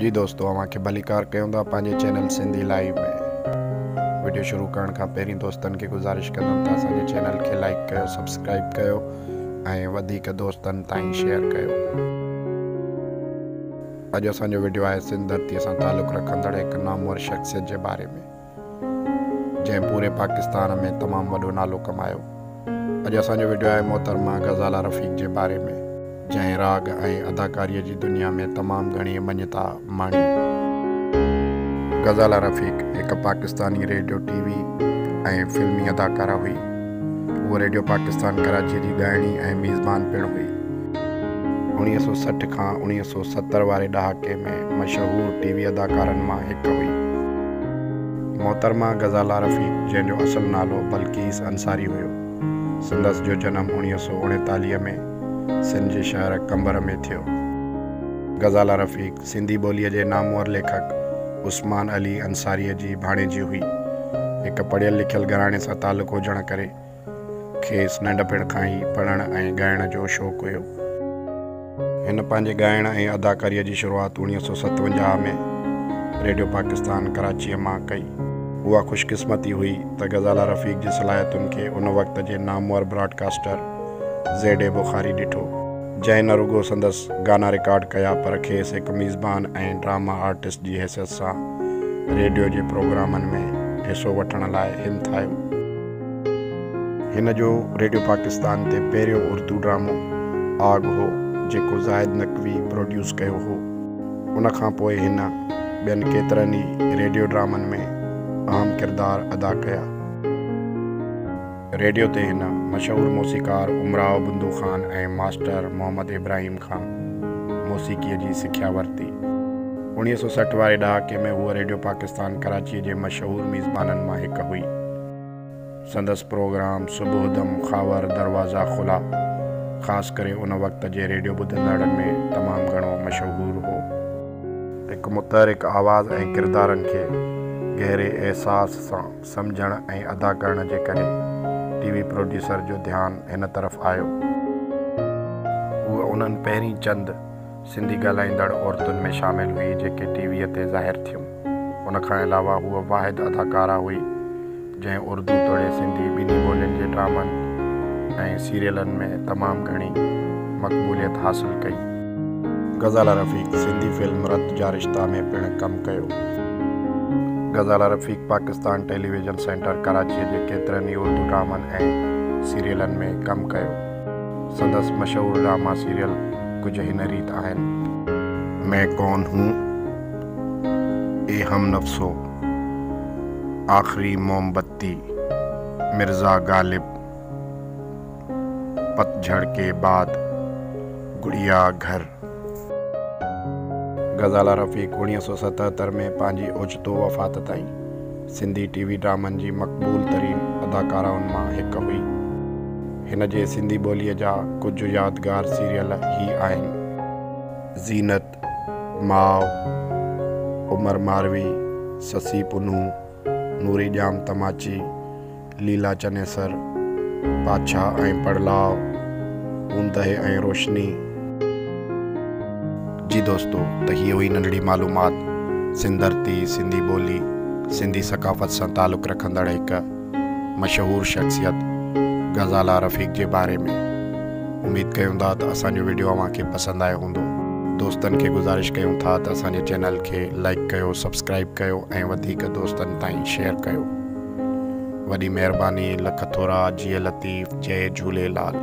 جي دوستو اوهان کي ڀليڪار ڪيون ٿا پنهنجي چينل سنڌي لائيو ۾ وڊيو شروع ڪرڻ کان پهرين دوستن کي گذارش ڪندم ته اسان جي چينل کي لائيڪ ڪيو سبسڪرائيب ڪيو ۽ وڌيڪ دوستن تائين شيئر ڪيو اڄ اسان جو وڊيو آهي سنڌ ڌرتي سان تعلق رکندڙ هڪ نامور شخصيت جي باري ۾ جنهن پوري پاڪستان ۾ تمام وڏو نالو ڪمايو. اڄ اسان جو وڊيو آهي محترمه غزاله رفيق جي باري ۾. جنهن راڳ ۽ اداڪاريء جي دنيا ۾ تمام گهڻي مڃتا ماڻي. غزاله رفيق هڪ پاڪستاني ريڊيو ٽي وي ۽ فلمي اداڪاره هئي. هوء ريڊيو پاڪستان ڪراچيء جي ڳائڻي ۽ ميزبان پڻ هئي. اڻويهه سؤ سٺ کان اڻويهه سؤ ستر واري ڏهاڪي ۾ مشهور ٽي وي اداڪارن مان هڪ هئي محترمه غزاله رفيق جنهن جو اصل نالو بلقيس انصاري هيو. سندس جو جنم اڻويهه سؤ اڻيتاليهه ۾ سنڌ جي شهر قمبر ۾ ٿيو. غزاله رفيق سنڌي ٻوليء جي نامور ليکڪ عثمان علي انصاريء جي ڀاڻيجي هئي. هڪ پڙهيل لکيل گهراڻي سان تعلق هجڻ ڪري کيس ننڍپڻ کان ئي پڙهڻ ۽ ڳائڻ جو شوق هيو. هن پنهنجي ڳائڻ ۽ اداڪاريء جي شروعات اڻويهه سؤ ستونجاهه ۾ ريڊيو پاڪستان ڪراچيء مان ڪئي. اها خوش قسمتي هئي ته غزاله رفيق جي صلاحيتن کي ان وقت جي نامور براڊڪاسٽر زيڊ اي بخاري ڏٺو، جنهن نه رڳو سندس گانا رڪارڊ ڪيا پر کيس هڪ ميزبان ۽ ڊراما آرٽسٽ جي حيثيت سان ريڊيو جي پروگرامن ۾ حصو وٺڻ لاء همٿايو. هن جو ريڊيو پاڪستان تي پهريون اردو ڊرامو آگ هو، جيڪو زاهد نقوي پروڊيوس ڪيو هو. ان کان پوء هن ٻين ڪيترن ئي ريڊيو ڊرامن ۾ اهم ڪردار ادا ڪيا. ريڊيو تي هن مشهور موسيقار امراء بندو خان ۽ ماسٽر محمد ابراهيم کان موسيقيء جي سکيا ورتي. اوڻيهه سؤ سٺ واري ڏهاڪي ۾ هوء ريڊيو پاڪستان ڪراچيء جي مشهور ميزبانن مان هڪ هئي. سندس پروگرام صبح دم خاور دروازا کلا خاص ڪري ان وقت جي ريڊيو ٻڌندڙن ۾ تمام گهڻو مشهور هو. هڪ متحرڪ آواز ۽ ڪردارن کي گهري احساس سان سمجهڻ ۽ ادا ڪرڻ جي ڪري ٽي وي پروڊيوسر جو ڌيان هن طرف آيو. هو انهن پهرين چند سنڌي ڳالهائيندڙ عورتن ۾ شامل هئي جيڪي ٽي ويء تي ظاهر ٿيون. ان کان علاوه هوء واحد اداڪاره هئي جنهن اردو توڙي سنڌي ٻنهي ٻولين جي ڊرامن ۽ سيريلن ۾ تمام گهڻي مقبوليت حاصل ڪئي. غزاله رفيق سنڌي فلم رت جا رشتا ۾ پڻ ڪم ڪيو. غزاله رفيق پاڪستان ٽيليويزن سينٽر ڪراچيء جي ڪيترن ئي اردو ڊرامن ۽ سيريلن ۾ ڪم ڪيو. سندس مشهور ڊراما سيريل ڪجهه هن ريت آهن. مين ڪون هون اي هم نفسو، آخري موم بتي، مرزا غالب، پتجهڙ ڪي بعد، گڙيا گهر. غزالا رفيق اوڻيهه سؤ ستهتر ۾ پنهنجي اوچتو وفات تائين سنڌي ٽي وي ڊرامن جي مقبول ترين اداڪارائن مان هڪ هئي. هن جي سنڌي ٻوليء جا ڪجهه يادگار سيريل هي آهن. زينت، ماء، عمر ماروي، سسي پنهون، نوري ڄام تماچي، ليلا چنيسر، پاڇا ۽ پڙلاء، اوندهه ۽ روشني. جي دوستو ته هيء هئي ننڍڙي معلومات سنڌ ڌرتي، سنڌي ٻولي، سنڌي ثقافت سان تعلق رکندڙ هڪ مشهور شخصيت غزالا رفيق جي باري ۾. اميد ڪيون ٿا ته اسان جو وڊيو اوهان کي پسند آيو هوندو. دوستن کي گذارش ڪيون ٿا ته اسان جي چينل کي لائيڪ ڪيو، سبسڪرائيب ڪيو ۽ وڌيڪ دوستن تائين شيئر ڪيو. وڏي مهرباني لک ٿورا جيئي لطيف جئي جهوليلال.